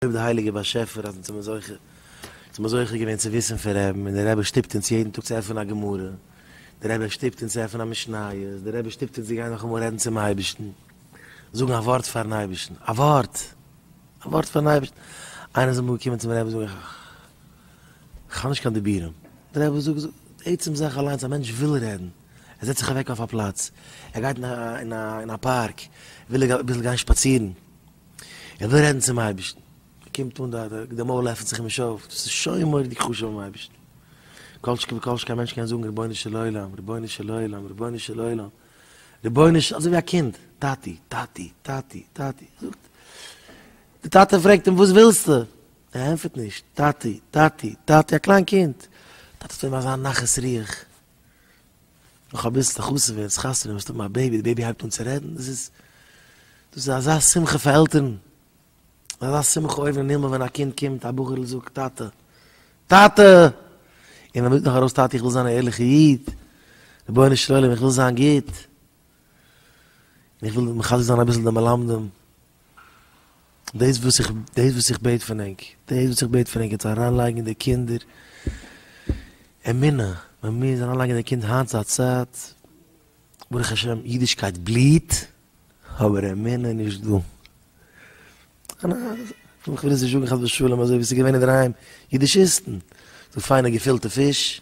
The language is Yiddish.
אויב דער הייליגער באשעפער האט אונז מזכה אונז מזכה געווען צו וויסן פון רעבן, און דער רבי שטופט אונז יעדן טאג צו עפענען א גמרא, דער רבי שטופט אונז צו עפענען א משניות, דער רבי שטופט אונז צו גיין נאכאמאל רעדן צום אייבערשטן, זאגן א ווארט פארן אייבערשטן, א ווארט! א ווארט פארן אייבערשטן! איינער איז אמאל געקומען צום רבי זאגן, איך האב נישט קיין דיבורים. דער רבי זאגט, זאגט, די עצם זאך אליינס, א מענטש וויל רעדן, ער זעצט זיך אוועק אויף א פלאץ, ער גייט אין א פארק, וויל ער אביסל גיין שפאצירן, ער וויל רעדן צום אייבערשטן, ער קומט אן דארט, די מויל עפנט זיך אים נישט אויף, דאס איז שוין מורא'דיג חשוב ביים אייבערשטן, כל שכן וכל שכן א מענטש קען זאגן רבונו של עולם, רבונו של עולם, רבונו של עולם, רבונו של, אזוי ווי א קינד, טאטי, טאטי, טאטי, טאטי, זאגט, די טאטע פרעגט אים וואס ווילסטו? ער ענטפערט נישט, טאטי, טאטי, טאטי, א קליין קינד, טאטי טוט אים אזא נחת רוח. נאך אביסל די חתונה ווערט עס חתונה וועסטו האבן א בעיבי די בעיבי הייבט אן צו רעדן דאס איז דאס איז אזא שמחה פאר עלטערן אזא שמחה אויבן אין הימל ווען א קינד קומט א בחור'ל זאגט טאטע טאטע און ער ברענגט נאך ארויס טאטע איך וויל זיין א ערליכע איד רבונו של עולם איך וויל זיין גוט און איך וויל מחזק זיין אביסל די מלמדים דאס וואס איך, דאס וואס איך בעט פון ענק, דאס וואס איך בעט פון ענק, איז צו אריינלייגן די קינדער אמונה, מען מוז אריינלייגן די קינדער, היינט איז א צייט, ברוך השם אידישקייט בליעט, אבער אמונה איז נישט דא. איך וויל עס נישט זאגן חס ושלום, אזוי ווי עס איז געווען אינדערהיים, אידישיסטן, פיינע געפילטע פיש,